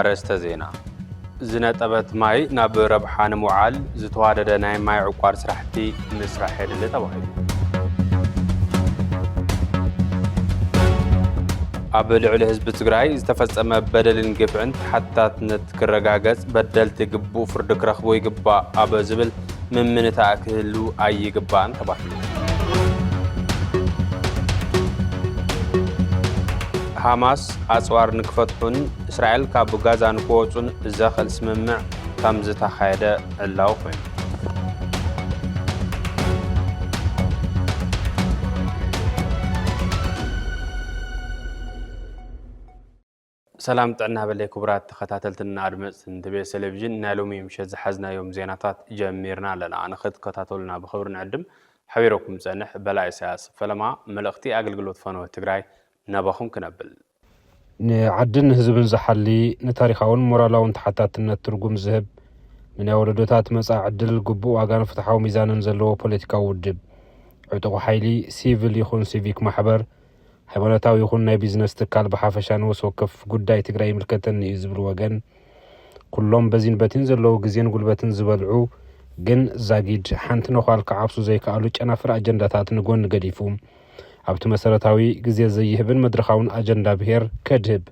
ኣርእስተ ዜና ዝነጠበት ማይ ናብ ረብሓ ንምውዓል ዝተዋደደ ናይ ማይ ዕቋር ስራሕቲ ምስራሕ የድሊ ተባሂሉ ኣብ ልዕሊ ህዝቢ ትግራይ ዝተፈፀመ በደልን ግፍዕን ተሓታትነት ክረጋገጽ በደልቲ ግቡእ ፍርዲ ክረኽቡ ይግባእ ኣብ ዝብል ምምንታእ ክህሉ ኣይግባእን ተባሂሉ። ሃማስ ኣጽዋር ንክፈትሑን እስራኤል ካብ ጋዛ ንክወጹን ዘኽእል ስምምዕ ከም ዝተኻየደ ዕላዊ ኮይኑ ሰላም ጥዕና በለይ ክቡራት ተኸታተልትን ኣድመጽትን ትቤ ሰለቪዥን ናይ ሎሚ ምሸት ዝሓዝናዮም ዜናታት ጀሚርና ኣለና ንኽትከታተሉና ብኽብሪ ንዕድም ሓቢረኩም ጸንሕ በላይ ኢሳያስ ፈለማ መልእኽቲ ኣገልግሎት ፈነወ ትግራይ ናባኹም ክነብል ንዓድን ህዝብን ዝሓሊ ንታሪኻውን ሞራላውን ተሓታትነት ትርጉም ዝህብ ንናይ ወለዶታት መጻኢ ዕድል ግቡእ ዋጋን ፍትሓዊ ሚዛንን ዘለዎ ፖለቲካዊ ውድብ ዕጡቑ ሓይሊ ሲቪል ይኹን ሲቪክ ማሕበር ሃይማኖታዊ ይኹን ናይ ቢዝነስ ትካል ብሓፈሻ ንወስ ወከፍ ጉዳይ ትግራይ ይምልከተኒ እዩ ዝብል ወገን ኩሎም በዚን በቲን ዘለዉ ግዜን ጉልበትን ዝበልዑ ግን ዛጊድ ሓንቲ ነዃል ክዓብሱ ዘይከኣሉ ጨናፍር ኣጀንዳታት ንጎኒ ገዲፉ ኣብቲ መሰረታዊ ግዜ ዘይህብን መድረኻውን ኣጀንዳ ብሄር ከድህብ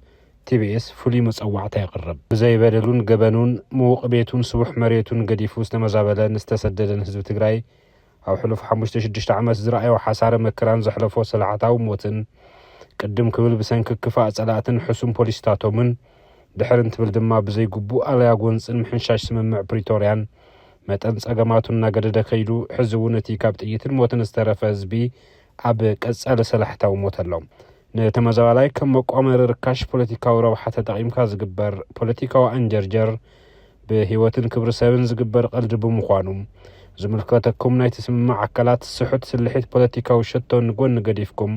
ቲቢኤስ ፍሉይ መጸዋዕታ የቕርብ። ብዘይ በደሉን ገበኑን፣ ምዉቕ ቤቱን ስቡሕ መሬቱን ገዲፉ ዝተመዛበለን ዝተሰደደን ህዝቢ ትግራይ ኣብ ሕሉፍ ሓሙሽተ ሽዱሽተ ዓመት ዝረኣዮ ሓሳረ መከራን ዘሕለፎ ሰላዕታዊ ሞትን ቅድም ክብል ብሰንኪ ክፋእ ጸላእትን ሕሱም ፖሊሲታቶምን ድሕር እንትብል ድማ ብዘይ ግቡእ ኣለያ ጎንጽን ምሕንሻሽ ስምምዕ ፕሪቶርያን መጠን ጸገማቱ እናገደደ ከይዱ ሕዚ እውን እቲ ካብ ጥይትን ሞትን ዝተረፈ ህዝቢ ኣብ ቀጻሊ ሰላሕታዊ ሞት ኣሎ። ንተመዛባላይ ከም መቋመሪ ርካሽ ፖለቲካዊ ረብሓ ተጠቒምካ ዝግበር ፖለቲካዊ ኣንጀርጀር ብህይወትን ክብሪ ሰብን ዝግበር ቐልዲ ብምዃኑ ዝምልከተኩም ናይቲ ስምምዕ ኣካላት ስሑት ስልሒት ፖለቲካዊ ሸቶ ንጎኒ ገዲፍኩም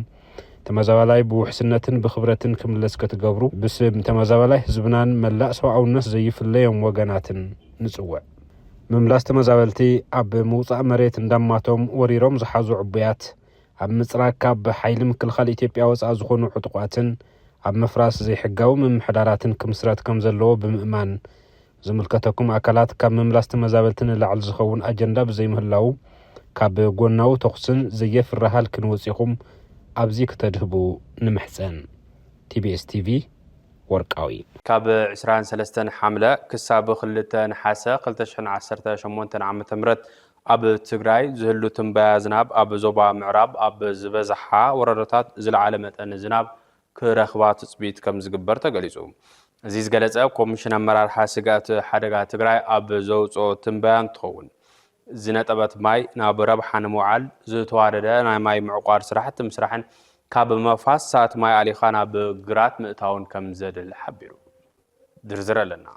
ተመዛባላይ ብውሕስነትን ብክብረትን ክምለስ ክትገብሩ ብስም ተመዛባላይ ህዝብናን መላእ ሰብኣውነት ዘይፍለዮም ወገናትን ንጽውዕ። ምምላስ ተመዛበልቲ ኣብ ምውጻእ መሬት እንዳማቶም ወሪሮም ዝሓዙ ዕቡያት ኣብ ምፅራግ ካብ ሓይሊ ምክልኻል ኢትዮጵያ ወፃእ ዝኾኑ ዕጡቋትን ኣብ ምፍራስ ዘይሕጋዊ ምምሕዳራትን ክምስረት ከምዘለዎ ብምእማን ዝምልከተኩም ኣካላት ካብ ምምላስ ተመዛበልቲ ንላዕሊ ዝኸውን ኣጀንዳ ብዘይምህላዉ ካብ ጎናዊ ተኹስን ዘየፍሪ ሃልኪ ንወፂኹም ኣብዚ ክተድህቡ ንምሕፀን። ቲቢኤስ ቲቪ ወርቃዊ። ካብ ዕስራን ሰለስተን ሓምለ ክሳብ ክልተ ነሓሰ ክልተ ሽሕን ዓሰርተ ሸሞንተን ዓመተ ምህረት ኣብ ትግራይ ዝህሉ ትንበያ ዝናብ ኣብ ዞባ ምዕራብ ኣብ ዝበዝሓ ወረዳታት ዝለዓለ መጠን ዝናብ ክረኽባ ትፅቢት ከምዝግበር ተገሊፁ። እዚ ዝገለፀ ኮሚሽን ኣመራርሓ ስግኣት ሓደጋ ትግራይ ኣብ ዘውፅኦ ትንበያ እንትኸውን፣ ዝነጠበት ማይ ናብ ረብሓ ንምውዓል ዝተዋደደ ናይ ማይ ምዕቋር ስራሕቲ ምስራሕን ካብ መፋስሳት ማይ ኣሊኻ ናብ ግራት ምእታውን ከምዘድሊ ሓቢሩ። ዝርዝር ኣለና።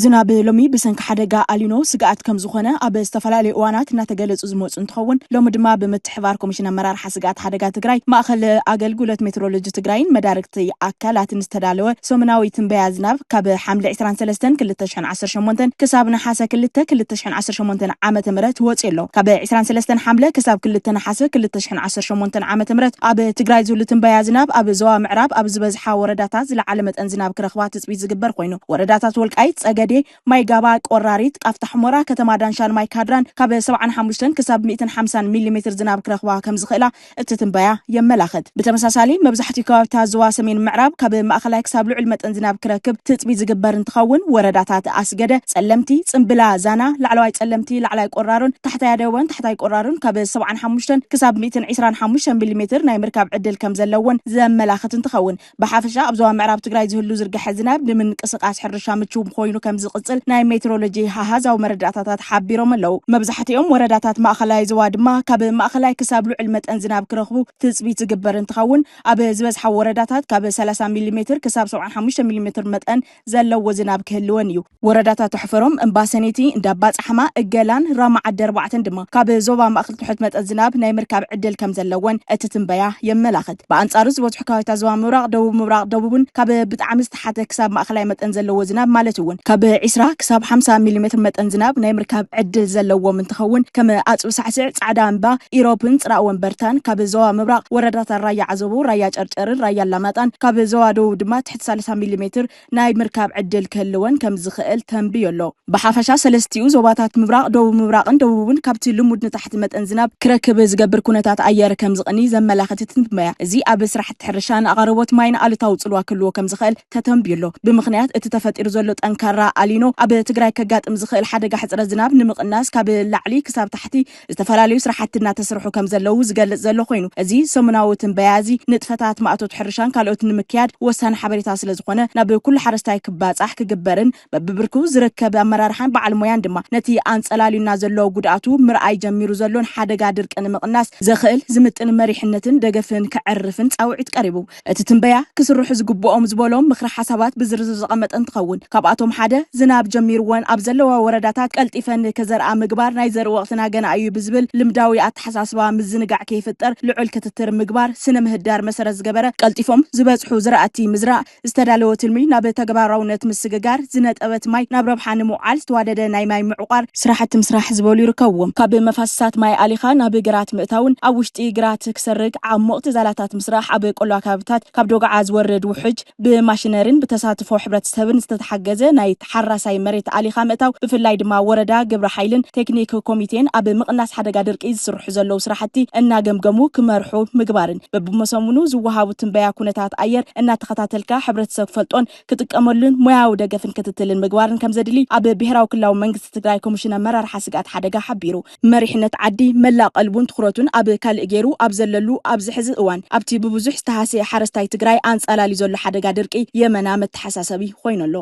ዝናብ ሎሚ ብሰንኪ ሓደጋ ኣሊኖ ስግኣት ከምዝኾነ ኣብ ዝተፈላለዩ እዋናት እናተገለፁ ዝመፁ እንትኸውን ሎሚ ድማ ብምትሕብባር ኮሚሽን ኣመራርሓ ስግኣት ሓደጋ ትግራይ፣ ማእኸል ኣገልግሎት ሜትሮሎጂ ትግራይን መዳርግቲ ኣካላትን ዝተዳለወ ሰሙናዊ ትንበያ ዝናብ ካብ ሓምለ ዕስራን ሰለስተን ክልተ ሽሕን ዓሰርተ ሸሞንተን ክሳብ ነሓሰ ክልተ ክልተ ሽሕን ዓሰርተ ሸሞንተን ዓመተ ምህረት ወፂኡ ኣሎ። ካብ ዕስራን ሰለስተን ሓምለ ክሳብ ክልተ ነሓሰ ክልተ ሽሕን ዓሰርተ ሸሞንተን ዓመተ ምህረት ኣብ ትግራይ ዝህሉ ትንበያ ዝናብ ኣብ ዞባ ምዕራብ ኣብ ዝበዝሓ ወረዳታት ዝለዓለ መጠን ዝናብ ክረኽባ ትፅቢት ዝግበር ኮይኑ ወረዳታት ወልቃይት ፀገዴ፣ ማይ ጋባ፣ ቆራሪት፣ ቃፍታ ሑመራ፣ ከተማ ዳንሻን ማይ ካድራን ካብ ሰብዓን ሓሙሽተን ክሳብ ሚእትን ሓምሳን ሚሊ ሜትር ዝናብ ክረኽባ ከምዝኽእላ እቲ ትንበያ የመላኽት። ብተመሳሳሊ መብዛሕቲኡ ከባቢታት ዞባ ሰሜን ምዕራብ ካብ ማእኸላይ ክሳብ ልዑል መጠን ዝናብ ክረክብ ትፅቢት ዝግበር እንትኸውን ወረዳታት ኣስገደ፣ ፀለምቲ፣ ፅምብላ፣ ዛና፣ ላዕለዋይ ፀለምቲ፣ ላዕላይ ቆራሮን ታሕታይ ኣደወን ታሕታይ ቆራሮን ካብ ሰብዓን ሓሙሽተን ክሳብ ሚእትን ዒስራን ሓሙሽተን ሚሊ ሜትር ናይ ምርካብ ዕድል ከምዘለወን ዘመላኽት እንትኸውን ብሓፈሻ ኣብ ዞባ ምዕራብ ትግራይ ዝህሉ ዝርግሐ ዝናብ ንምንቅስቓስ ሕርሻ ምችው ኮይኑ ከም ዝቕፅል ናይ ሜትሮሎጂ ኣሃዛዊ መረዳእታታት ሓቢሮም ኣለው። መብዛሕቲኦም ወረዳታት ማእኸላይ ዞባ ድማ ካብ ማእኸላይ ክሳብ ልዑል መጠን ዝናብ ክረኽቡ ትፅቢት ዝግበር እንትኸውን ኣብ ዝበዝሓ ወረዳታት ካብ ሰላሳ ሚሊ ሜትር ክሳብ ሰብዓን ሓሙሽተን ሚሊ ሜትር መጠን ዘለዎ ዝናብ ክህልወን እዩ። ወረዳታት ኣሕፈሮም፣ እምባ ሰኔቲ፣ እንዳ ኣባፃሕማ፣ እገላን ራማ ዓዲ ኣርባዕተን ድማ ካብ ዞባ ማእኸል ትሑት መጠን ዝናብ ናይ ምርካብ ዕድል ከምዘለወን እቲ ትንበያ የመላኽት። ብኣንፃሩ ዝበዝሑ ከባቢታት ዞባ ምብራቕ፣ ደቡብ ምብራቕ፣ ደቡብን ካብ ብጣዕሚ ዝተሓተ ክሳብ ማእኸላይ መጠን ዘለዎ ዝናብ ማለት እውን ካብ ዕስራ ክሳብ ሓምሳ ሚሊሜትር መጠን ዝናብ ናይ ምርካብ ዕድል ዘለዎም እንትኸውን ከም ኣፅቢ ሳዕስዕ፣ ፃዕዳ እምባ፣ ኢሮብን ፅራእ ወንበርታን ካብ ዞባ ምብራቕ ወረዳታት ራያ ዓዘቦ፣ ራያ ጨርጨርን ራያ ኣላማጣን ካብ ዞባ ደቡብ ድማ ትሕቲ ሰላሳ ሚሊሜትር ናይ ምርካብ ዕድል ክህልወን ከም ዝኽእል ተንብዮ ኣሎ። ብሓፈሻ ሰለስቲኡ ዞባታት ምብራቕ፣ ደቡብ ምብራቕን ደቡብን ካብቲ ልሙድ ንታሕቲ መጠን ዝናብ ክረክብ ዝገብር ኩነታት ኣየር ከም ዝቕንይ ዘመላኽት ትንበያ እዚ ኣብ ስራሕቲ ሕርሻን ኣቐርቦት ማይን ኣሉታዊ ፅልዋ ክህልዎ ከም ዝኽእል ተተንብዮ ኣሎ። ብምኽንያት እቲ ተፈጢሩ ዘሎ ጠንካራ ኣሊኖ ኣብ ትግራይ ከጋጥም ዝኽእል ሓደጋ ሕፅረት ዝናብ ንምቕናስ ካብ ላዕሊ ክሳብ ታሕቲ ዝተፈላለዩ ስራሕቲ እናተስርሑ ከምዘለዉ ዝገልፅ ዘሎ ኮይኑ እዚ ሰሙናዊ ትንበያ እዚ ንጥፈታት ማእቶት ሕርሻን ካልኦት ንምክያድ ወሳኒ ሓበሬታ ስለዝኾነ ናብ ኩሉ ሓረስታይ ክባፃሕ ክግበርን በቢብርኩ ዝርከብ ኣመራርሓን በዓል ሞያን ድማ ነቲ ኣንፀላልዩና ዘሎ ጉድኣቱ ምርኣይ ጀሚሩ ዘሎን ሓደጋ ድርቂ ንምቕናስ ዘኽእል ዝምጥን መሪሕነትን ደገፍን ከዕርፍን ፃውዒት ቀሪቡ። እቲ ትንበያ ክስርሑ ዝግብኦም ዝበሎም ምኽረ ሓሳባት ብዝርዝር ዘቐመጠ እንትኸውን፣ ካብኣቶም ሓደ ዝናብ ጀሚርወን ኣብ ዘለዋ ወረዳታት ቀልጢፈን ንከዘርኣ ምግባር፣ ናይ ዘርኢ ወቕትና ገና እዩ ብዝብል ልምዳዊ ኣተሓሳስባ ምዝንጋዕ ከይፍጠር ልዑል ክትትር ምግባር፣ ስነ ምህዳር መሰረት ዝገበረ ቀልጢፎም ዝበፅሑ ዝራእቲ ምዝራእ፣ ዝተዳለወ ትልሚ ናብ ተግባራውነት ምስግጋር፣ ዝነጠበት ማይ ናብ ረብሓ ንምውዓል ዝተዋደደ ናይ ማይ ምዕቋር፣ ስራሕቲ ምስራሕ ዝበሉ ይርከብዎም። ካብ መፋስሳት ማይ ኣሊኻ ናብ ግራት ምእታውን ኣብ ውሽጢ ግራት ክሰርግ ዓሞቕቲ ዛላታት ምስራሕ፣ ኣብ ቆላ ከባቢታት ካብ ዶግዓ ዝወርድ ውሕጅ ብማሽነሪን ብተሳትፎ ሕብረተሰብን ዝተተሓገዘ ናይ ተሓራሳይ መሬት ኣሊኻ ምእታው ብፍላይ ድማ ወረዳ፣ ግብረ ሓይልን ቴክኒክ ኮሚቴን ኣብ ምቕናስ ሓደጋ ድርቂ ዝስርሑ ዘለዉ ስራሕቲ እናገምገሙ ክመርሑ ምግባርን በብመሰሙኑ ዝወሃቡ ትንበያ ኩነታት ኣየር እናተኸታተልካ ሕብረተሰብ ክፈልጦን ክጥቀመሉን ሞያዊ ደገፍን ክትትልን ምግባርን ከምዘድሊ ኣብ ብሄራዊ ክልላዊ መንግስቲ ትግራይ ኮሚሽን ኣመራርሓ ስግኣት ሓደጋ ሓቢሩ። መሪሕነት ዓዲ መላእ ቀልቡን ትኹረቱን ኣብ ካልእ ገይሩ ኣብ ዘለሉ ኣብዚ ሕዚ እዋን ኣብቲ ብብዙሕ ዝተሃስየ ሓረስታይ ትግራይ ኣንፃላልዩ ዘሎ ሓደጋ ድርቂ የመና መተሓሳሰቢ ኾይኑ ኣሎ።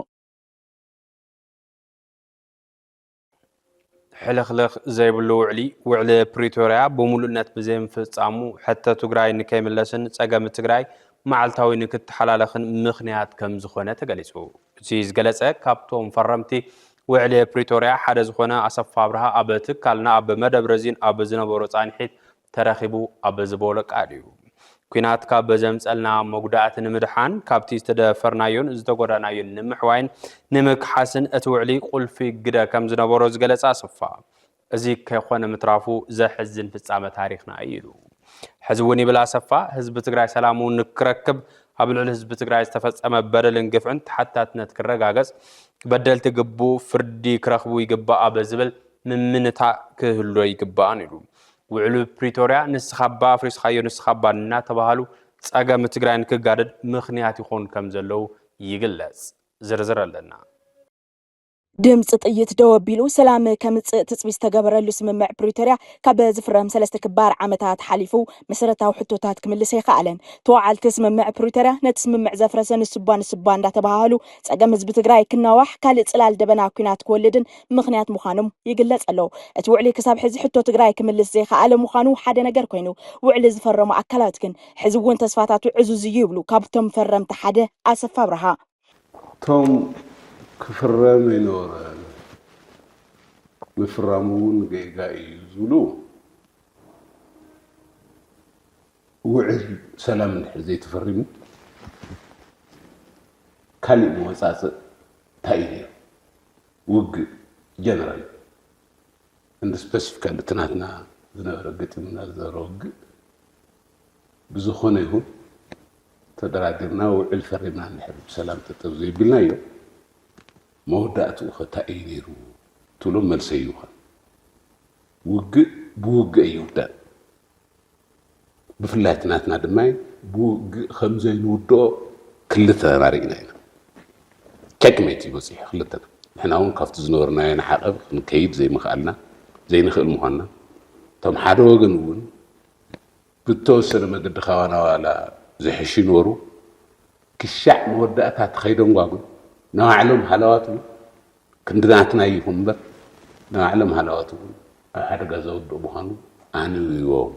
ሕልኽልኽ ዘይብሉ ውዕሊ ውዕሊ ፕሪቶርያ ብሙሉእነት ብዘይምፍፃሙ ሕቶ ትግራይ ንከይምለስን ፀገም ትግራይ መዓልታዊ ንክተሓላለኽን ምኽንያት ከምዝኾነ ተገሊፁ። እቲ ዝገለፀ ካብቶም ፈረምቲ ውዕሊ ፕሪቶርያ ሓደ ዝኾነ ኣሰፋ ኣብርሃ ኣብ ትካልና ኣብ መደብ ረዚን ኣብ ዝነበሮ ፃንሒት ተረኺቡ ኣብ ዝበሎ ቃል እዩ። ኲናት ካብ ዘምፀልና መጉዳእቲ ንምድሓን፣ ካብቲ ዝተደፈርናዮን ዝተጎዳእናዮን ንምሕዋይን ንምክሓስን እቲ ውዕሊ ቁልፊ ግደ ከምዝነበሮ ዝገለፀ ኣሰፋ፣ እዚ ከይኾነ ምትራፉ ዘሕዝን ፍፃመ ታሪኽና እዩ ኢሉ። ሕዚ እውን ይብል ኣሰፋ፣ ህዝቢ ትግራይ ሰላሙ ንክረክብ ኣብ ልዕሊ ህዝቢ ትግራይ ዝተፈፀመ በደልን ግፍዕን ተሓታትነት ክረጋገፅ በደልቲ ግቡእ ፍርዲ ክረኽቡ ይግባእ ኣብ ዝብል ምምንታእ ክህሎ ይግባእን ኢሉ። ውዕሉ ፕሪቶርያ ንስኻባ ኣፍሪስኻዮ ንስኻባ እናተባሃሉ ጸገም ትግራይ ንክጋደድ ምኽንያት ይኾኑ ከም ዘለዉ ይግለጽ። ዝርዝር ኣለና። ድምፂ ጥይት ደው ኣቢሉ ሰላም ከምፅእ ትፅቢት ዝተገበረሉ ስምምዕ ፕሪቶርያ ካብ ዝፍረም ሰለስተ ክባር ዓመታት ሓሊፉ መሰረታዊ ሕቶታት ክምልስ ኣይኸኣለን። ተወዓልቲ ስምምዕ ፕሪቶርያ ነቲ ስምምዕ ዘፍረሰ ንስባ ንስባ እንዳተበሃሃሉ ፀገም ህዝቢ ትግራይ ክናዋሕ ካልእ ፅላል ደበና ኲናት ክወልድን ምኽንያት ምዃኖም ይግለፅ ኣሎ። እቲ ውዕሊ ክሳብ ሕዚ ሕቶ ትግራይ ክምልስ ዘይኸኣለ ምዃኑ ሓደ ነገር ኮይኑ፣ ውዕሊ ዝፈረሙ ኣካላት ግን ሕዚ እውን ተስፋታቱ ዕዙዝ እዩ ይብሉ ካብቶም ፈረምቲ ሓደ ኣሰፋ ኣብርሃ። እቶም ክፍረም ኣይነበሮን፣ ምፍራሙ እውን ጌጋ እዩ ዝብሉ፣ ውዕል ሰላም እንድሕር ዘይተፈሪሙ ካሊእ መወፃፅእ እንታይ እዩ ነይሩ? ውግእ ጀነራል እንዲ ስፐሲፊካሊ እቲ ናትና ዝነበረ ገጢሙና ዝነበረ ውግእ ብዝኾነ ይኹን ተደራዲርና ውዕል ፈሪምና እንድሕር ብሰላም ጠጠብ ዘይብልናዮ መወዳእትኡ ኸ እንታይ እዩ ነይሩ ትብሎ መልሰ ይኹን ውግእ ብውግእ ኣይውዳእን። ብፍላይ እቲ ናትና ድማ ብውግእ ከም ዘይንውድኦ ክልተና ርኢና ኢና። ቸክሜት እዩ በጺሑ ክልተና። ንሕና እውን ካብቲ ዝነበርናዮ ንዓቐብ ክንከይድ ዘይምኽኣልና ዘይንኽእል ምዃንና እቶም ሓደ ወገን እውን ብተወሰነ መገዲ ካባና ዋላ ዝሕሹ ይንበሩ ክሻዕ መወዳእታ እቲ ከይደንጓጉ ንባዕሎም ሃለዋት እውን ክንዲ ናትና እዩ ይኹን እምበር ናይ ባዕሎም ሃለዋት እውን ኣብ ሓደጋ ዘውድቕ ምዃኑ ኣንቢቦም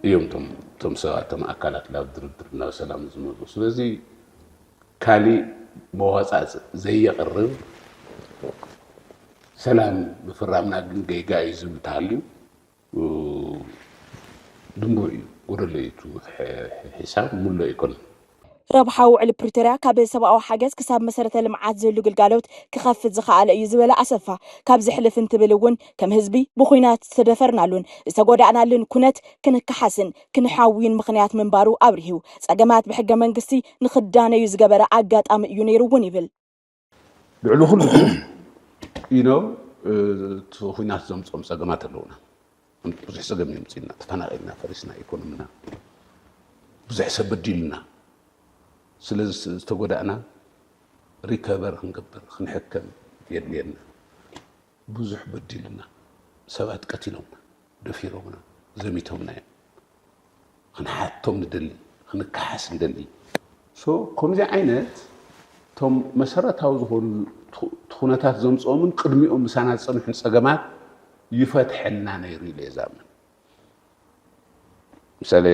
እዮም እቶም እቶም ሰባት እቶም ኣካላት ናብ ድርድር ናብ ሰላም ዝመፁ ስለዚ ካሊእ መዋፃፅ ዘየቕርብ ሰላም ምፍራምና ግን ጌጋ እዩ ዝብል ተሃልዩ ድንቡር እዩ ጎደሎ እዩ እቱ ሒሳብ ሙሉእ ኣይኮነን። ረብሓ ውዕሊ ፕሪቶርያ ካብ ሰብኣዊ ሓገዝ ክሳብ መሰረተ ልምዓት ዝህሉ ግልጋሎት ክኸፍት ዝኸኣለ እዩ ዝበለ ኣሰፋ፣ ካብዚ ሕልፍ እንትብል እውን ከም ህዝቢ ብዂናት ዝተደፈርናሉን ዝተጎዳእናሉን ኩነት ክንከሓስን ክንሓውይን ምኽንያት ምንባሩ ኣብሪሁ። ፀገማት ብሕገ መንግስቲ ንኽዳነዩ ዝገበረ ኣጋጣሚ እዩ ነይሩ እውን ይብል። ልዕሊ ኩሉ ግን እቲ ኩናት ዘምፅኦም ፀገማት ኣለውና ብዙሕ ፀገም የምፅና ተፈናቂልና ፈሪስና ኢኮኖሚና ብዙሕ ሰብ በዲልና ስለ ዝተጎዳእና ሪከቨር ክንገብር ክንሕከም የድልየና ብዙሕ በዲልና ሰባት ቀቲሎምና ደፊሮምና ዘሚቶምና እዮም ክንሓቶም ንደሊ ክንከሓስ ንደሊ ሶ ከምዚ ዓይነት እቶም መሰረታዊ ዝኾኑ ትኹነታት ዘምፅኦምን ቅድሚኦም ምሳና ዝፀንሑን ፀገማት ይፈትሐልና ነይሩ ኢለ የዛምን ምሳሌ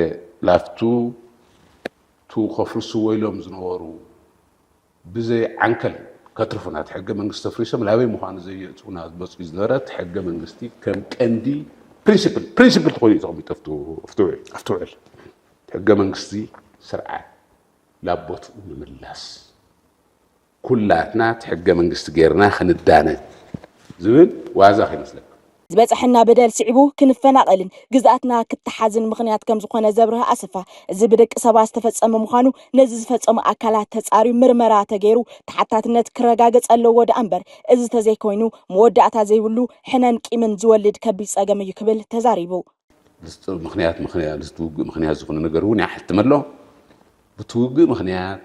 ላፍቱ ቱ ከፍርስዎ ኢሎም ዝነበሩ ብዘይ ዓንከል ከትርፉና እቲ ሕገ መንግስቲ ኣፍሪሶም ናበይ ምዃኑ ዘየእትዉና መፅዩ ዝነበረ እቲ ሕገ መንግስቲ ከም ቀንዲ ፕሪንሲፕል ፕሪንሲፕል ተኾይኑ እዩ ተቐሚጡ ኣብቲ ውዕል እቲ ሕገ መንግስቲ ስርዓት ላብ ቦትኡ ንምምላስ ኩላትና እቲ ሕገ መንግስቲ ገይርና ክንዳነ ዝብል ዋዛ ከይመስለኩም ዝበፀሐና በደል ስዒቡ ክንፈናቐልን ግዝኣትና ክተሓዝን ምኽንያት ከምዝኾነ ዘብርህ ኣሰፋ፣ እዚ ብደቂ ሰባት ዝተፈፀመ ምዃኑ ነዚ ዝፈፀሙ ኣካላት ተፃርዩ ምርመራ ተገይሩ ተሓታትነት ክረጋገፅ ኣለዎ ደኣ እምበር እዚ ተዘይኮይኑ መወዳእታ ዘይብሉ ሕነን ቂምን ዝወልድ ከቢድ ፀገም እዩ ክብል ተዛሪቡ። ምክንያት ምስቲ ውግእ ምክንያት ዝኾነ ነገር እውን ይሓትም ኣሎ። ብቲ ውግእ ምክንያት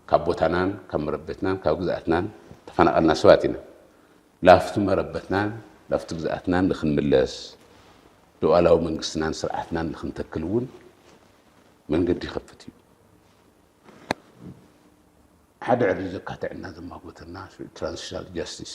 ካብ ቦታናን ካብ መረበትናን ካብ ግዝኣትናን ተፈናቐልና ሰባት ኢና። ላፍቲ መረበትናን ላፍቲ ግዝኣትናን ንክንምለስ ሉዓላዊ መንግስትናን ስርዓትናን ንክንተክል እውን መንገዲ ይኸፍት እዩ። ሓደ ዕድል ዘካትዕና ዘማጎተና ትራንዚሽናል ጃስቲስ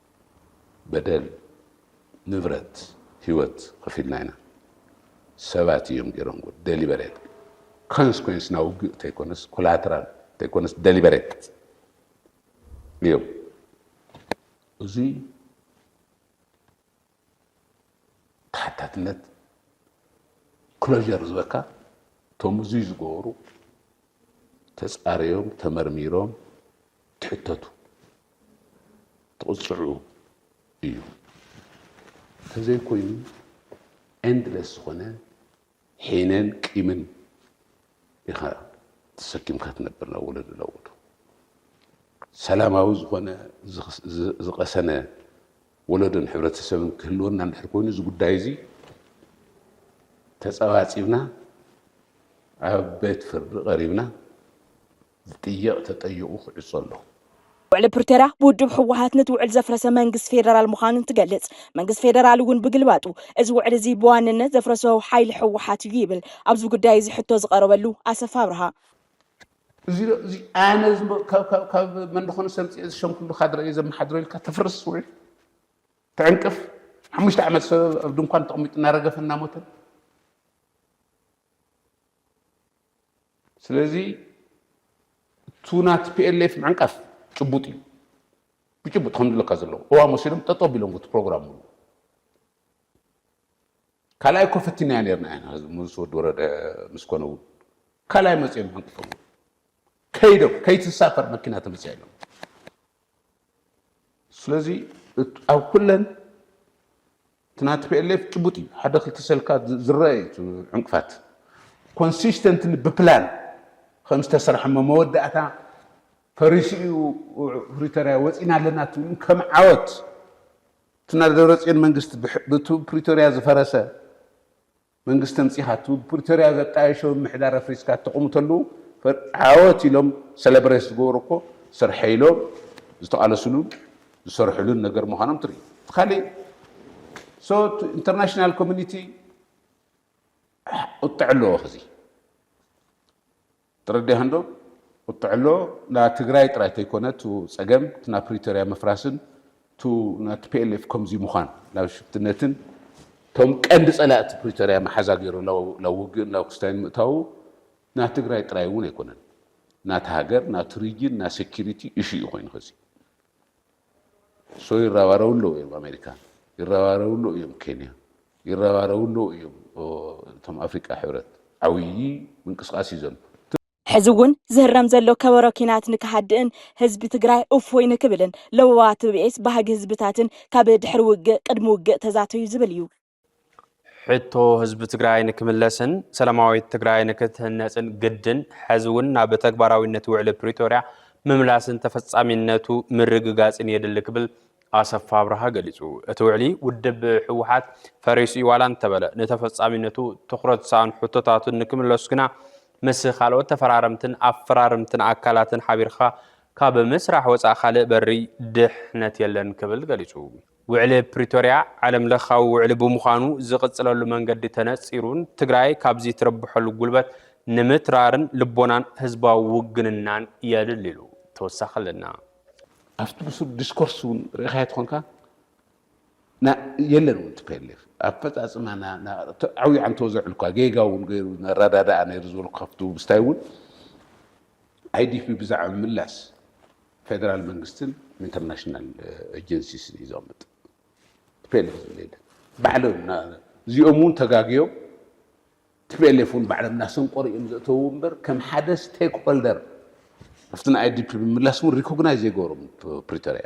በደል ንብረት ሂወት ከፊልና ኢና ሰባት እዮም ጌሮምዎ ደሊበሬት ኮንስኮንስ ናይ ውግእ ተይኮነስ ኮላትራል ተይኮነስ ደሊበሬት እዮም እዙይ ተሓታትነት ክሎዠር ዝበካ እቶም እዙይ ዝገበሩ ተፃርዮም ተመርሚሮም ትሕተቱ ትቕፅዑ እዩ ተዘይኮይኑ ኤንድለስ ዝኾነ ሒነን ቂምን ኢኻ ተሰኪምካ ትነብር ናብ ወለዶ ናብ ወለዶ ሰላማዊ ዝኾነ ዝቐሰነ ወለዶን ሕብረተሰብን ክህልወና እንድሕር ኮይኑ እዚ ጉዳይ እዚ ተጸባጺብና ኣብ ቤት ፍርዲ ቀሪብና ዝጥየቕ ተጠይቑ ክዕጾ ኣለዎ። ውዕሊ ፕሪቶርያ ብውድብ ህወሓት ነቲ ውዕል ዘፍረሰ መንግስቲ ፌደራል ምዃኑ እንትገልፅ፣ መንግስቲ ፌደራል እውን ብግልባጡ እዚ ውዕሊ እዚ ብዋንነት ዘፍረሶ ሓይሊ ህወሓት እዩ ይብል ኣብዚ ጉዳይ እዚ ሕቶ ዝቐረበሉ ኣሰፋ ኣብርሃ። እዚ ኣነ ካብ መን ደኾነ ሰምፂኤ ዝሸምኩሉ ካድረ እየ ዘመሓድሮ ኢልካ ተፍርስ ውዕል ትዕንቅፍ ሓሙሽተ ዓመት ሰብ ኣብ ድንኳን ተቐሚጡ እናረገፈ እናሞተን ስለዚ እቱ ና ቲፒኤልኤፍ ምዕንቃፍ ጭቡጥ እዩ ብጭቡጥ ከም ዝብለካ ዘለዉ ቅዋም ወሲዶም ጠጠው ቢሎም እቲ ፕሮግራም ሙሉ ካልኣይ እኮ ፈቲናዮ ነርና ኢና ምስ ወዲ ወረደ ምስ ኮነ እውን ካልኣይ መፅኦም ዕንቅፎም ከይዶም ከይትሳፈር መኪና ተመፅያ ኢሎም ስለዚ ኣብ ኩለን እቲ ናይ ቲፒኤልኤፍ ጭቡጥ እዩ ሓደ ክልተ ሰልካ ዝረአ እዩ እቲ ዕንቅፋት ኮንሲስተንትሊ ብፕላን ከም ዝተሰርሐ እሞ መወዳእታ ፈሪሱ እዩ ፕሪቶሪያ ወፂና ኣለና ትብሉ ከም ዓወት እቲ ናይ ደብረፅዮን መንግስቲ ብፕሪቶሪያ ዝፈረሰ መንግስቲ ኣምጺኻ እቲ ብፕሪቶርያ ዘጣየሾ ምምሕዳር ኣፍሪስካ እተቕምተሉ ዓወት ኢሎም ሰለብሬት ዝገበሩ እኮ ስርሐይ ኢሎም ዝተቓለስሉን ዝሰርሕሉን ነገር ምዃኖም ትርኢ። እቲ ካሊእ ሶ ኢንተርናሽናል ኮሚኒቲ ቁጥዕ ኣለዎ ከዚ ተረዲኣንዶ ቁጥዕሎ ን ትግራይ ጥራይ ተይኮነ ቱ ጸገም ቲ ናብ ፕሪቶርያ ምፍራስን ቱ ን tplf ከምዚ ምዃን ናብ ሽፍትነትን ቶም ቀንዲ ጸላእቲ ፕሪቶርያ መሓዛ ገይሩ ናብ ውግእን ናብ ክስታይን ምእታዉ ን ትግራይ ጥራይ እውን ኣይኮነን ናቲ ሃገር ናቲ ሪጅን ን security issue እዩ ኮይኑ ኸዚ ሶ ይረባረቡ ኣለዉ እዮም ኣሜሪካ ይረባረቡ ኣለዉ እዮም ኬንያ ይረባረቡ ኣለዉ እዮም እቶም ኣፍሪቃ ሕብረት ዓብዪ ምንቅስቃስ እዩ ዘሎ ሕዚ እውን ዝህረም ዘሎ ከበሮ ኪናት ንክሃድእን ህዝቢ ትግራይ እፎይ ንክብልን ለበዋ ትብኤስ ባህጊ ህዝብታትን ካብ ድሕሪ ውግእ ቅድሚ ውግእ ተዛተዩ ዝብል እዩ። ሕቶ ህዝቢ ትግራይ ንክምለስን ሰላማዊት ትግራይ ንክትህነፅን ግድን ሕዚ እውን ናብ ተግባራዊነት ውዕሊ ፕሪቶርያ ምምላስን ተፈፃሚነቱ ምርግጋፅን የድሊ ክብል ኣሰፋ ኣብርሃ ገሊፁ። እቲ ውዕሊ ውድብ ህወሓት ፈሪሱ እዩ ዋላ እንተበለ ንተፈፃሚነቱ ትኩረት ዝሰኣኑ ሕቶታቱን ንክምለሱ ግና ምስ ካልኦት ተፈራረምትን ኣፈራርምትን ኣካላትን ሓቢርካ ካብ ምስራሕ ወፃእ ካልእ በሪ ድሕነት የለን ክብል ገሊፁ። ውዕሊ ፕሪቶርያ ዓለም ለኻዊ ውዕሊ ብምዃኑ ዝቕፅለሉ መንገዲ ተነፂሩን ትግራይ ካብዚ ትረብሐሉ ጉልበት ንምትራርን ልቦናን ህዝባዊ ውግንናን የድሊ ኢሉ። ተወሳኺ ኣለና። ኣብቲ ብሱል ዲስኮርስ እውን ርኢኻዮ ተኾንካ የለን እውን ቲፔሌፍ ኣፈፃፅማ ዓብዩ ዓንተወዘ ዕልኳ ጌጋ እውን ገይሩ ነረዳዳኣ ነይሩ ዝበልኩ ካብቲ ውብስታይ እውን IDP ብዛዕባ ምምላስ ፌደራል መንግስትን ኢንተርናሽናል ኤጀንሲስን እዩ ዘቕምጥ። ቲፒኤልኤፍ ዝብል የለን። ባዕሎም እና እዚኦም እውን ተጋግዮም ቲፒኤልኤፍ እውን ባዕሎም እናሰንቆሩ እዮም ዘእተውዎ እምበር ከም ሓደ ስቴክ ሆልደር ኣብቲ ንኣይዲፒ ምምላስ እውን ሪኮግናይዝ ዘይገበሮም ፕሪቶሪያ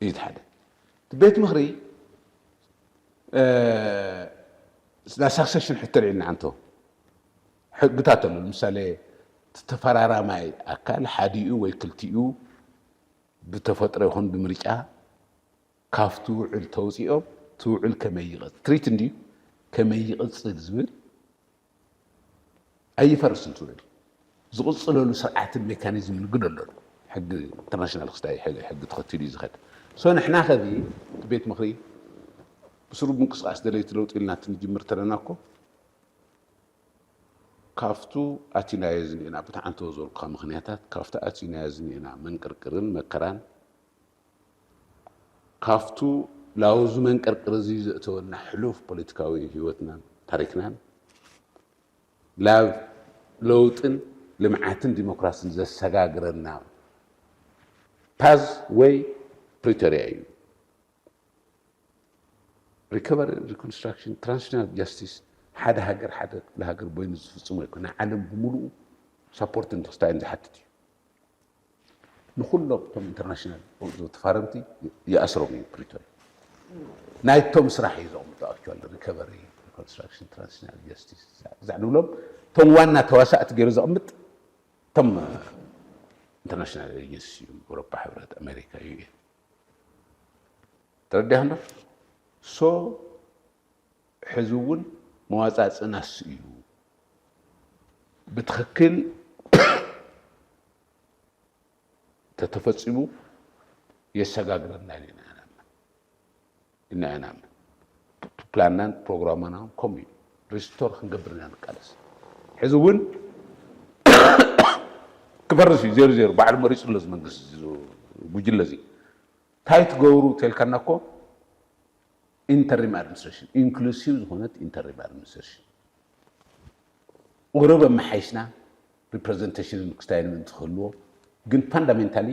እዩ እቲ ሓደ እቲ ቤት ምክሪ ናይ ሳክሰሽን ሕቶ ልዒልና ኣንቶ ሕግታት ኣሎ ንምሳሌ ተፈራራማይ ኣካል ሓዲኡ ወይ ክልቲኡ ብተፈጥሮ ይኹን ብምርጫ ካብቲ ውዕል ተውፂኦም እቲ ውዕል ከመይ ይቕፅል ትሪት እንድዩ ከመይ ይቕፅል ዝብል ኣይፈርስን ትብል ዝቕጽለሉ ስርዓትን ሜካኒዝምን ግን ኣሎ ሕጊ ኢንተርናሽናል ክስታይ ሕጊ ተኸቲሉ እዩ ዝኸድ ሶ ንሕና ከዚ እቲ ቤት ምኽሪ ብስሩ ምንቅስቃስ ደለይቲ ለውጢ ኢልና ትንጅምር ተለና እኮ ካፍቱ ኣቲናዮ ዝኒኤና ብትዓንተወ ዝበልኩኻ ምኽንያታት ካፍቲ ኣቲናዮ ዝኒኤና መንቅርቅርን መከራን ካብቱ ላውዚ መንቅርቅር እዚ ዘእተወና ሕሉፍ ፖለቲካዊ ህይወትናን ታሪክናን ላብ ለውጥን ልምዓትን ዲሞክራስን ዘሰጋግረና ፓዝ ወይ ፕሪቶሪያ እዩ። ሪከቨሪ ሪኮንስትራክሽን ትራንስሽናል ጃስቲስ ሓደ ሃገር ሓደ ክፍለ ሃገር ቦይኑ ዝፍፅሞ ኣይኮነ ዓለም ብምሉኡ ሳፖርትን ትክስታይን ዝሓትት እዩ። ንኹሎም እቶም ኢንተርናሽናል ዝወጡ ተፋረምቲ ይኣስሮም እዩ ፕሪቶሪያ ናይቶም ስራሕ እዩ ዘቕምጦ ኣክቹዋሊ ሪከቨሪ ኮንስትራክሽን ትራንዚሽናል ጀስቲስ ብዛዕ ንብሎም እቶም ዋና ተዋሳእቲ ገይሩ ዘቕምጥ እቶም ኢንተርናሽናል ኤጀንሲ እዩ ኤውሮፓ ሕብረት ኣሜሪካ እዩ ተረዲያ እንዶ ሶ ሕዚ እውን መዋፃፅእና እሱ እዩ ብትኽክል ተተፈፂሙ የሰጋግረና ኢልና ኢና ንኣምን ኢልና ኢና ንኣምን ፕላንናን ፕሮግራምና ከምኡ እዩ ሪስቶር ክንገብር ኢና ንቃለስ ሕዚ እውን ክፈርስ እዩ ዜሮ ዜሮ ባዕሉ መሪፁ ኣሎ መንግስቲ ጉጅለ እዚ እንታይ ትገብሩ ተልካና እኮ ኢንተሪም ኣድሚኒስትሬሽን፣ ኢንክሉሲቭ ዝኾነት ኢንተሪም ኣድሚኒስትሬሽን ቁሩብ ኣመሓይሽና ሪፕረዘንቴሽንን ምክስታይንን እንትክህልዎ ግን ፋንዳሜንታሊ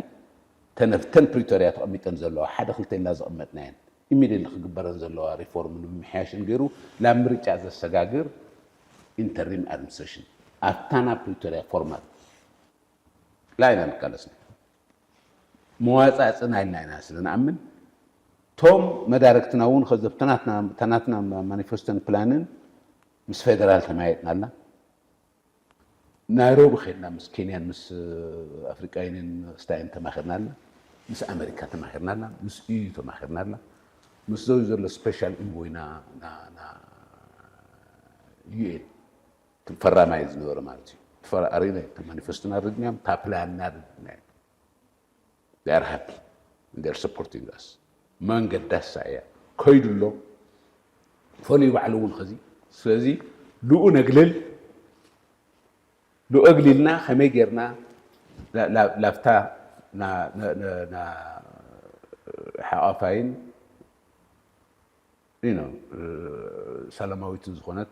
እተን ኣብተን ፕሪቶርያ ተቐሚጠን ዘለዋ ሓደ ክልተ ኢልና ዘቐመጥናየን ኢሚድየትሊ ክግበረን ዘለዋ ሪፎርምን ምምሕያሽን ገይሩ ናብ ምርጫ ዘሰጋግር ኢንተሪም ኣድሚኒስትሬሽን ኣብታ ናብ ፕሪቶርያ ፎርማት ላይ ኢና ንቃለስ መዋጻጽእና ኢልና ኢና ስለ ንኣምን ቶም መዳርግትና እውን ከዚ ተናትና ማኒፈስቶን ፕላንን ምስ ፌደራል ተማያየጥናላ ናይሮቢ ከድና ምስ ኬንያን ምስ ኣፍሪቃ ዩኒን ስታይን ተማኺርናላ ምስ ኣመሪካ ተማኺርናላ ምስ ኢዩ ተማኺርናላ ምስ ዘዩ ዘሎ ስፔሻል ኢንቮይና ዩኤን እቲ ፈራማይ ዝነበረ ማለት እዩ። እቲ ፈራ ኣሪና እዩ። እቲ ማኒፌስቶ ናረድናዮም፣ እታ ፕላን ናረድናዮም። They are happy and they are supporting us። መንገዳሳ እያ ከይዱ ኣሎ ፈልዩ ባዕሉ እውን ከዚ ስለዚ ልኡ ነግልል ልኡ ኣግሊልና ከመይ ጌርና ላብታ ሓቛፋይን ሰላማዊትን ዝኾነት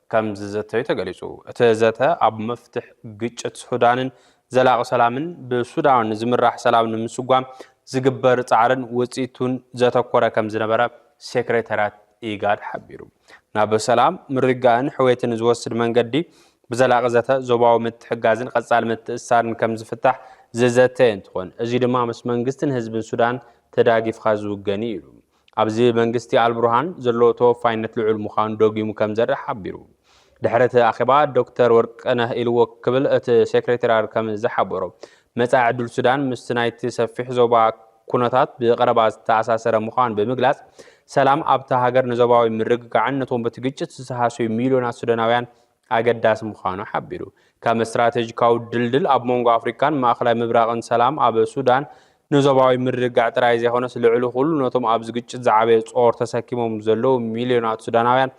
ከም ዝዘተዩ ተገሊጹ። እቲ ዘተ ኣብ መፍትሕ ግጭት ሱዳንን ዘላቒ ሰላምን ብሱዳን ዝምራሕ ሰላም ንምስጓም ዝግበር ጻዕርን ውጽኢቱን ዘተኮረ ከም ዝነበረ ሴክሬታርያት ኢጋድ ሓቢሩ። ናብ ሰላም፣ ምርግጋእን ሕውየትን ዝወስድ መንገዲ ብዘላቒ ዘተ፣ ዞባዊ ምትሕጋዝን ቐጻሊ ምትእስሳርን ከም ዝፍታሕ ዝዘተየ እንትኾን፣ እዚ ድማ ምስ መንግስትን ህዝብን ሱዳን ተዳጊፍኻ ዝውገን'ዩ ኢሉ። ኣብዚ መንግስቲ ኣልቡርሃን ዘለዎ ተወፋይነት ልዑል ምዃኑ ደጊሙ ከም ዘርኢ ሓቢሩ። ድሕሪ እቲ ኣኼባ ዶክተር ወርቅነህ ኢልዎ ክብል እቲ ሴክሬቴራር ከም ዝሓበሮ፣ መጻኢ ዕድል ሱዳን ምስቲ ናይቲ ሰፊሕ ዞባ ኩነታት ብቐረባ ዝተኣሳሰረ ምዃኑ ብምግላጽ፣ ሰላም ኣብታ ሃገር ንዞባዊ ምርግጋዕን ነቶም በቲ ግጭት ዝተሃስዩ ሚልዮናት ሱዳናውያን ኣገዳሲ ምዃኑ ሓቢሩ። ከም ስትራቴጂካዊ ድልድል ኣብ መንጎ ኣፍሪካን ማእኸላይ ምብራቕን ሰላም ኣብ ሱዳን ንዞባዊ ምርግጋዕ ጥራይ ዘይኮነስ ልዕሊ ኩሉ ነቶም ኣብዚ ግጭት ዝዓበየ ጾር ተሰኪሞም ዘለዉ ሚልዮናት ሱዳናውያን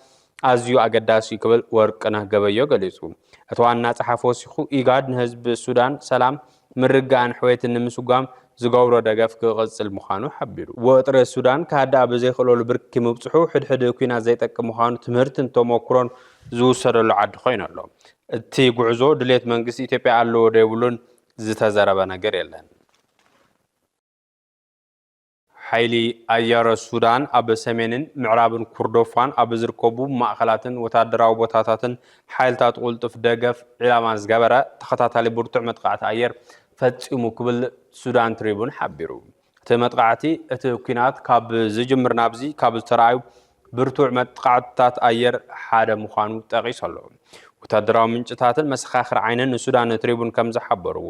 ኣዝዩ ኣገዳሲ እዩ ክብል ወርቅነህ ገበዮ ገሊጹ። እቲ ዋና ጸሓፊ ወሲኹ ኢጋድ ንህዝቢ ሱዳን ሰላም ምርግጋእን ሕውየትን ንምስጓም ዝገብሮ ደገፍ ክቕጽል ምዃኑ ሓቢሩ። ወጥሪ ሱዳን ክሃድኣ ብዘይክእለሉ ብርኪ ምብጽሑ፣ ሕድሕድ ኲናት ዘይጠቅም ምዃኑ ትምህርትን ተሞኩሮን ዝውሰደሉ ዓዲ ኮይኑ ኣሎ። እቲ ጉዕዞ ድሌት መንግስቲ ኢትዮጵያ ኣለዎዶ የብሉን ዝተዘረበ ነገር የለን። ሓይሊ ኣየር ሱዳን ኣብ ሰሜንን ምዕራብን ኩርዶፋን ኣብ ዝርከቡ ማእኸላትን ወታደራዊ ቦታታትን ሓይልታት ቁልጡፍ ደገፍ ዒላማ ዝገበረ ተኸታታሊ ብርቱዕ መጥቓዕቲ ኣየር ፈፂሙ ክብል ሱዳን ትሪቡን ሓቢሩ። እቲ መጥቓዕቲ እቲ ኲናት ካብ ዝጅምር ናብዚ ካብ ዝተረኣዩ ብርቱዕ መጥቓዕትታት ኣየር ሓደ ምዃኑ ጠቒሱ ኣሎ። ወታደራዊ ምንጭታትን መሰኻኽር ዓይንን ንሱዳን ትሪቡን ከም ዝሓበርዎ፣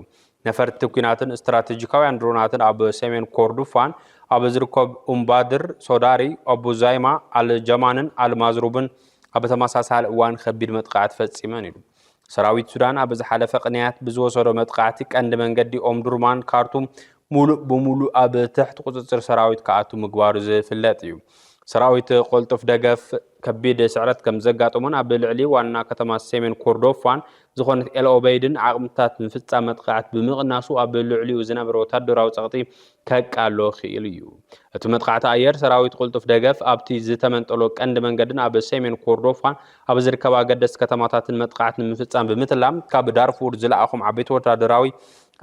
ነፈርቲ ኲናትን ስትራተጂካውያን ድሮናትን ኣብ ሰሜን ኮርዱፋን ኣብ ዝርከቡ ኡምባድር፣ ሶዳሪ፣ ኣቡ ዛይማ፣ ኣል ጀማንን ኣል ማዝሩብን ኣብ ተመሳሳሊ እዋን ከቢድ መጥቃዕቲ ፈጺመን ኢሉ። ሰራዊት ሱዳን ኣብ ዝሓለፈ ቅንያት ብዝወሰዶ መጥቃዕቲ ቀንዲ መንገዲ ኦምዱርማን ካርቱም ሙሉእ ብሙሉእ ኣብ ትሕቲ ቁፅፅር ሰራዊት ክኣቱ ምግባሩ ዝፍለጥ እዩ። ሰራዊት ቆልጡፍ ደገፍ ከቢድ ስዕረት ከም ዘጋጠሞን ኣብ ልዕሊ ዋና ከተማ ሰሜን ኮርዶፋን ዝኾነት ኤል ኦበይድን ዓቕምታት ምፍጻም መጥቓዕት ብምቕናሱ ኣብ ልዕሊኡ ዝነበረ ወታደራዊ ጸቕጢ ከቃሎ ክኢሉ እዩ። እቲ መጥቓዕቲ ኣየር ሰራዊት ቅልጡፍ ደገፍ ኣብቲ ዝተመንጠሎ ቀንዲ መንገድን ኣብ ሰሜን ኮርዶፋን ኣብ ዝርከባ ኣገደስቲ ከተማታትን መጥቓዕት ንምፍጻም ብምትላም ካብ ዳርፉር ዝለኣኾም ዓበይቲ ወታደራዊ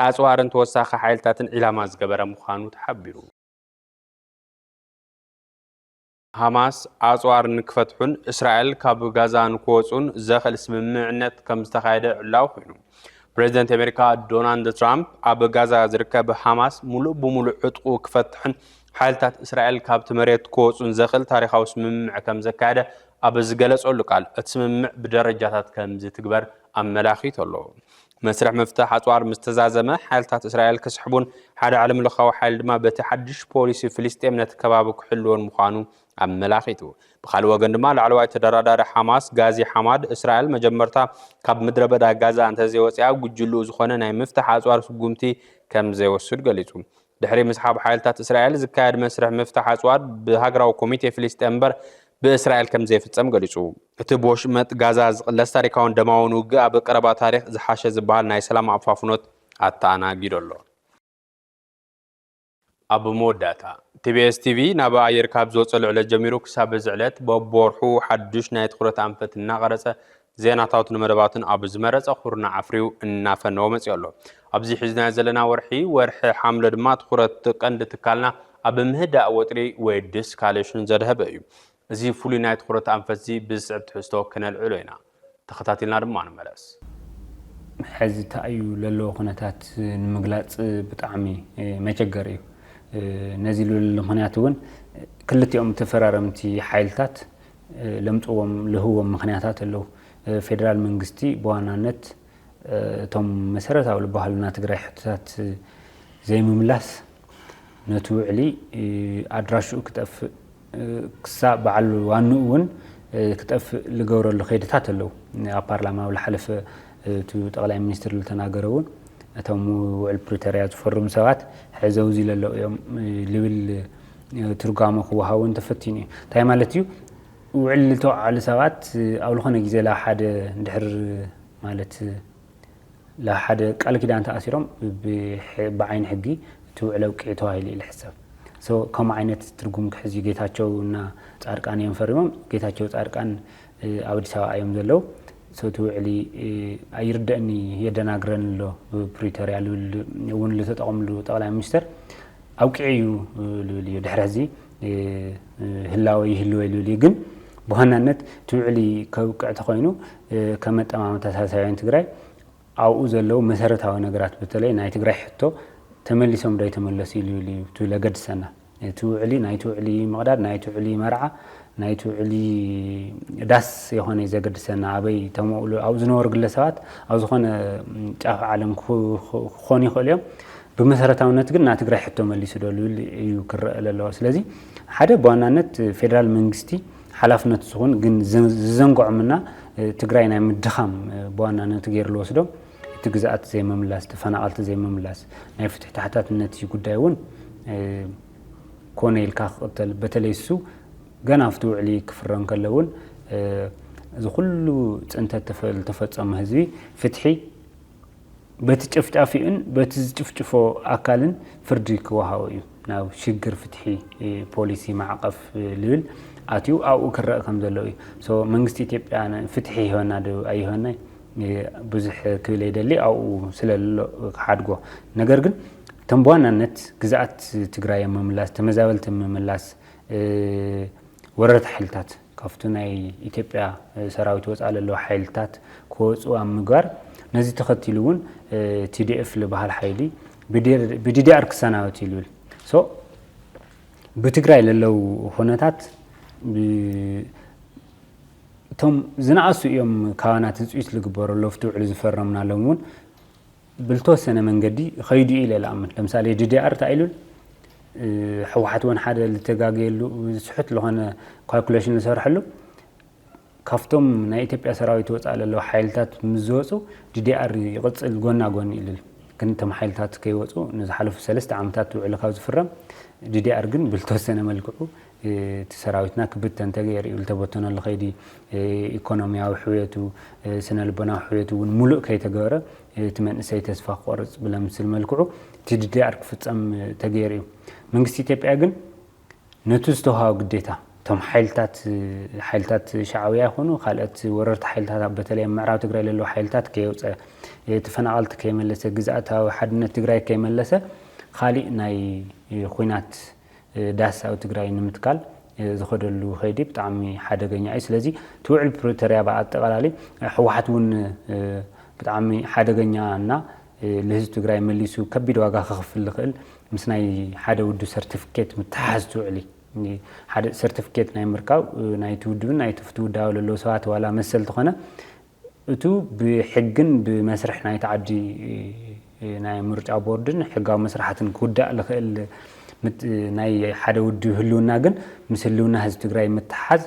ኣጽዋርን ተወሳኺ ሓይልታትን ዒላማ ዝገበረ ምዃኑ ተሓቢሩ። ሃማስ ኣጽዋር ንክፈትሑን እስራኤል ካብ ጋዛ ንክወጹን ዘኽእል ስምምዕነት ከም ዝተኻየደ ዕላዊ ኮይኑ። ፕሬዚደንት ኣሜሪካ ዶናልድ ትራምፕ ኣብ ጋዛ ዝርከብ ሃማስ ሙሉእ ብሙሉእ ዕጥቁ ክፈትሕን ሓይልታት እስራኤል ካብቲ መሬት ክወፁን ዘኽእል ታሪኻዊ ስምምዕ ከም ዘካየደ ኣብ ዝገለጸሉ ቃል እቲ ስምምዕ ብደረጃታት ከም ዝትግበር ኣመላኺቱ ኣሎ። መስርሕ ምፍታሕ ኣጽዋር ምስ ተዛዘመ፣ ሓይልታት እስራኤል ክስሕቡን ሓደ ዓለምለኻዊ ሓይሊ ድማ በቲ ሓድሽ ፖሊሲ ፍልስጤም ነቲ ከባቢ ክሕልዎን ምዃኑ ኣመላኺቱ። ብኻልእ ወገን ድማ ላዕለዋይ ተደራዳሪ ሓማስ ጋዚ ሓማድ፣ እስራኤል መጀመርታ ካብ ምድረበዳ ጋዛ እንተዘይወጺኣ፣ ጉጅልኡ ዝኾነ ናይ ምፍታሕ ኣጽዋር ስጉምቲ ከምዘይወስድ ገሊጹ። ድሕሪ ምስሓብ ሓይልታት እስራኤል ዝካየድ መስርሕ ምፍታሕ ኣጽዋር ብሃገራዊ ኮሚቴ ፍልስጤም እምበር ብእስራኤል ከም ዘይፍጸም ገሊጹ። እቲ ብወሽመጥ ጋዛ ዝቕለስ ታሪካውን ደማውን ውግእ ኣብ ቀረባ ታሪኽ ዝሓሸ ዝበሃል ናይ ሰላም ኣፋፍኖት ኣተኣናጊዶ ኣሎ። ኣብ መወዳእታ፣ ቲቢኤስ ቲቪ ናብ ኣየር ካብ ዝወጸሉ ዕለት ጀሚሩ ክሳብ እዚ ዕለት በብወርሑ ሓዱሽ ናይ ትኹረት ኣንፈት እናቐረጸ ዜናታቱን መደባቱን ኣብ ዝመረጸ ኩርናዕ ኣፍርዩ እናፈነወ መጺኡ ኣሎ። ኣብዚ ሒዝናዮ ዘለና ወርሒ ወርሒ ሓምለ ድማ ትኹረት ቀንዲ ትካልና ኣብ ምህዳእ ወጥሪ ወይ ዲስካሌሽን ዘድሀበ እዩ። እዚ ፍሉይ ናይ ትኹረት ኣንፈትዚ ብዝስዕብ ትሕዝቶ ክነልዕሎ ኢና። ተኸታቲልና ድማ ንመለስ። ሐዚ ተኣዩ ለለዎ ኩነታት ንምግላጽ ብጣዕሚ መቸገሪ እዩ። ነዚ ልብለሉ ምክንያት እውን ክልቲኦም ተፈራረምቲ ሓይልታት ለምጽዎም ለህዎም ምክንያታት ኣለው። ፌደራል መንግስቲ ብዋናነት እቶም መሰረታዊ ዝበሃሉ ናይ ትግራይ ሕቶታት ዘይምምላስ ነቲ ውዕሊ ኣድራሽኡ ክጠፍእ ክሳእ በዓል ዋንኡ እውን ክጠፍእ ዝገብረሉ ከይድታት ኣለው። ኣብ ፓርላማ ኣብ ዝሓለፈ እቲ ጠቕላይ ሚኒስትር ዝተናገረ እውን እቶም ውዕል ፕሪቶርያ ዝፈርሙ ሰባት ሕዘውዚ ለለው እዮም ዝብል ትርጓመ ክወሃቦ እንተፈቲኑ እዩ እንታይ ማለት እዩ ውዕል ዝተወዓሉ ሰባት ኣብ ዝኾነ ግዜ ላ ሓደ ድሕር ማለት ላ ሓደ ቃል ኪዳን ተኣሲሮም ብዓይኒ ሕጊ እቲ ውዕል ኣብቂዑ ተባሂሉ እዩ ዝሕሰብ ከምኡ ዓይነት ትርጉም ክሕዝ እዩ ጌታቸው እና ፃድቃን እዮም ፈሪሞም ጌታቸው ፃድቃን ኣብ ኣዲስ ኣበባ ኣዮም ዘለው ሰቲ ውዕሊ ኣይርደእን እዪ የደናግረኒ ኣሎ ብፕሪቶርያ ልብል እውን ልተጠቐምሉ ጠቕላይ ሚኒስተር ኣብቂዑ እዩ ልብል እዩ ድሕሪ ሕዚ ህላወ ይህልወ ልብል እዩ ግን ብዋናነት እቲ ውዕሊ ከብቅዕ ተኮይኑ ከም ኣጠማምታ ሳልሳውያን ትግራይ ኣብኡ ዘለው መሰረታዊ ነገራት በተለይ ናይ ትግራይ ሕቶ ተመሊሶም ዶ ኣይተመለሱ ይልብል እዩ ትብል ኣገድሰና እቲ ውዕሊ ናይቲ ውዕሊ ምቕዳድ፣ ናይቲ ውዕሊ መርዓ፣ ናይቲ ውዕሊ ዳስ የኾነይ ዘገድሰና። ኣበይ ተመውሉ ኣብኡ ዝነበሩ ግለሰባት ኣብ ዝኾነ ጫፍ ዓለም ክኾኑ ይኽእሉ እዮም። ብመሰረታውነት ግን ና ትግራይ ሕቶ መሊሱ ዶ ልብል እዩ ክረአ ዘለዎ። ስለዚ ሓደ ብዋናነት ፌዴራል መንግስቲ ሓላፍነት ዝኹን ግን ዝዘንግዖምና ትግራይ ናይ ምድኻም ብዋናነት ገይሩ ዝወስዶ እቲ ግዝኣት ዘይምምላስ፣ ተፈናቐልቲ ዘይምምላስ፣ ናይ ፍትሒ ተሓታትነት እዩ ጉዳይ እውን ኮነ ኢልካ ክቕተል በተለይ እሱ ገና ኣብቲ ውዕሊ ክፍረ እንከሎ እውን እዚ ኩሉ ፅንተት ዝተፈፀሞ ህዝቢ ፍትሒ በቲ ጨፍጫፊኡን በቲ ዝጭፍጭፎ ኣካልን ፍርዲ ክወሃቦ እዩ ናብ ሽግር ፍትሒ ፖሊሲ ማዕቐፍ ልብል ኣትዩ ኣብኡ ክረአ ከም ዘለዎ እዩ መንግስቲ ኢትዮጵያ ፍትሒ ይህበና ዶ ኣይህበና ብዙሕ ክብል ኣይደሊ ኣብኡ ስለሎ ክሓድጎ ነገር ግን እቶም ብዋናነት ግዝኣት ትግራይ ምምላስ ተመዛበልቲ ምምላስ ወረርቲ ሓይልታት ካብቲ ናይ ኢትዮጵያ ሰራዊት ወፃእ ለለዉ ሓይልታት ክወፁ ኣብ ምግባር ነዚ ተኸቲሉ እውን ቲዲኤፍ ዝበሃል ሓይሊ ብዲዲኣር ክሰናበት እዩ ዝብል ሶ ብትግራይ ለለው ኩነታት እቶም ዝነኣሱ እዮም ካባና ትፅቢት ልግበሮ ሎፍቲ ውዕል ዝፈረምናሎም እውን ብልተወሰነ መንገዲ ኸይዱ ኢለ ልኣምን ለምሳሌ ድዲኣር ተኣኢሉል ሕወሓት ወን ሓደ ልተጋገየሉ ስሑት ዝኾነ ካልኩሌሽን ዝሰርሐሉ ካብቶም ናይ ኢትዮጵያ ሰራዊት ወፃእ ለለዉ ሓይልታት ምስ ዝወፁ ዲዲኣር ይቕፅል ጎና ጎኒ ኢልል ግን እቶም ሓይልታት ከይወፁ ንዝሓለፉ ሰለስተ ዓመታት ውዕሊ ካብ ዝፍረም ዲዲኣር ግን ብዝተወሰነ መልክዑ እቲ ሰራዊትና ክብተን ተገይሩ'ዩ፣ ዝተበተነሉ ከይዲ ኢኮኖሚያዊ ሕውየቱ፣ ስነ ልቦናዊ ሕውየቱ እውን ሙሉእ ከይተገበረ እቲ መንእሰይ ተስፋ ክቖርፅ ብለምስል መልክዑ TDDR ክፍፀም ተገይሩ እዩ። መንግስቲ ኢትዮጵያ ግን ነቱ ዝተውሃቦ ግዴታ እቶም ሓይልታት ሓይልታት ሻዕብያ ይኹኑ ካልኦት ወረርቲ ሓይልታት ኣብ በተለይ ኣብ ምዕራብ ትግራይ ዘለዉ ሓይልታት ከየውፀ ተፈናቐልቲ ከይመለሰ ግዝኣታዊ ሓድነት ትግራይ ከይመለሰ ካሊእ ናይ ኹናት ዳህሳዊ ትግራይ ንምትካል ዝኸደሉ ከይዲ ብጣዕሚ ሓደገኛ እዩ። ስለዚ እቲ ውዕል ፕሪቶርያ ብኣጠቓላሊ ህወሓት እውን ብጣዕሚ ሓደገኛ እና ንህዝቢ ትግራይ መሊሱ ከቢድ ዋጋ ከኽፍል ዝኽእል ምስ ናይ ሓደ ውድብ ሰርቲፊኬት ምትሓሓዝ ትውዕሊ ሓደ ሰርቲፊኬት ናይ ምርካብ ናይቲ ውድብን ናይቲ ፍቲ ውዳበ ለለዉ ሰባት ዋላ መሰል ተኾነ እቱ ብሕግን ብመስርሕ ናይቲ ዓዲ ናይ ምርጫ ቦርድን ሕጋዊ መስራሓትን ክውዳእ ልኽእል ናይ ሓደ ውድብ ህልውና ግን ምስ ህልውና ህዝቢ ትግራይ ምትሓዝ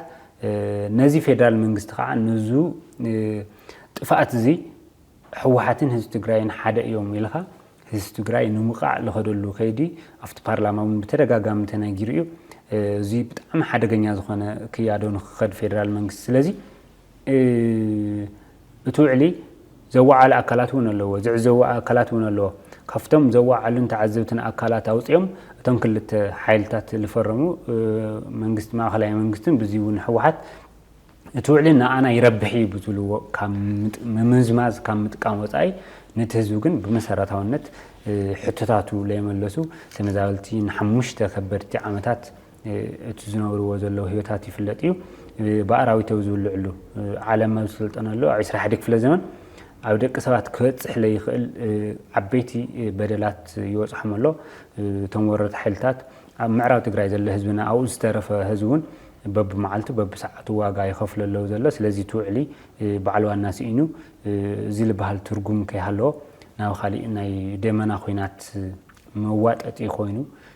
ነዚ ፌደራል መንግስቲ ከዓ ንዙ ጥፍኣት እዚ ሕወሓትን ህዝቢ ትግራይን ሓደ እዮም ኢልኻ ህዝቢ ትግራይ ንምቃዕ ዝኸደሉ ከይዲ ኣብቲ ፓርላማ እውን ብተደጋጋሚ ተነጊሩ እዩ እዚ ብጣዕሚ ሓደገኛ ዝኾነ ክያዶ ንክኸድ ፌደራል መንግስቲ ስለዚ እቲ ውዕሊ ዘወዓለ ኣካላት እውን ኣለዎ፣ ዝዕዘቡ ኣካላት እውን ኣለዎ። ካብቶም ዘወዓሉን ተዓዘብትን ኣካላት ኣውፂኦም እቶም ክልተ ሓይልታት ዝፈረሙ መንግስቲ ማእኸላይ መንግስትን ብዚ እውን ህወሓት እቲ ውዕሊ ንኣና ይረብሕ እዩ ብዝብልዎ ካብ ምምዝማዝ ካብ ምጥቃም ወፃኢ ነቲ ህዝቢ ግን ብመሰረታውነት ሕቶታቱ ለይመለሱ ተመዛበልቲ ንሓሙሽተ ከበድቲ ዓመታት እቲ ዝነብርዎ ዘለዉ ህይወታት ይፍለጥ እዩ። ብኣራዊት ኣብ ዝብልዕሉ ዓለም ኣብ ዝሰልጠነሉ ኣብ ዕስራ ሓደ ክፍለ ዘመን ኣብ ደቂ ሰባት ክበፅሕ ለይኽእል ዓበይቲ በደላት ይበፅሖም ኣሎ። እቶም ወረርቲ ሓይልታት ኣብ ምዕራብ ትግራይ ዘሎ ህዝብና ኣብኡ ዝተረፈ ህዝቢ እውን በብመዓልቱ በብሰዓቱ ዋጋ ይኸፍሉ ኣለዉ ዘሎ። ስለዚ እቲ ውዕሊ በዓል ዋና ስኢኑ እዚ ዝበሃል ትርጉም ከይሃለዎ ናብ ካሊእ ናይ ደመና ኹናት መዋጠጢ ኮይኑ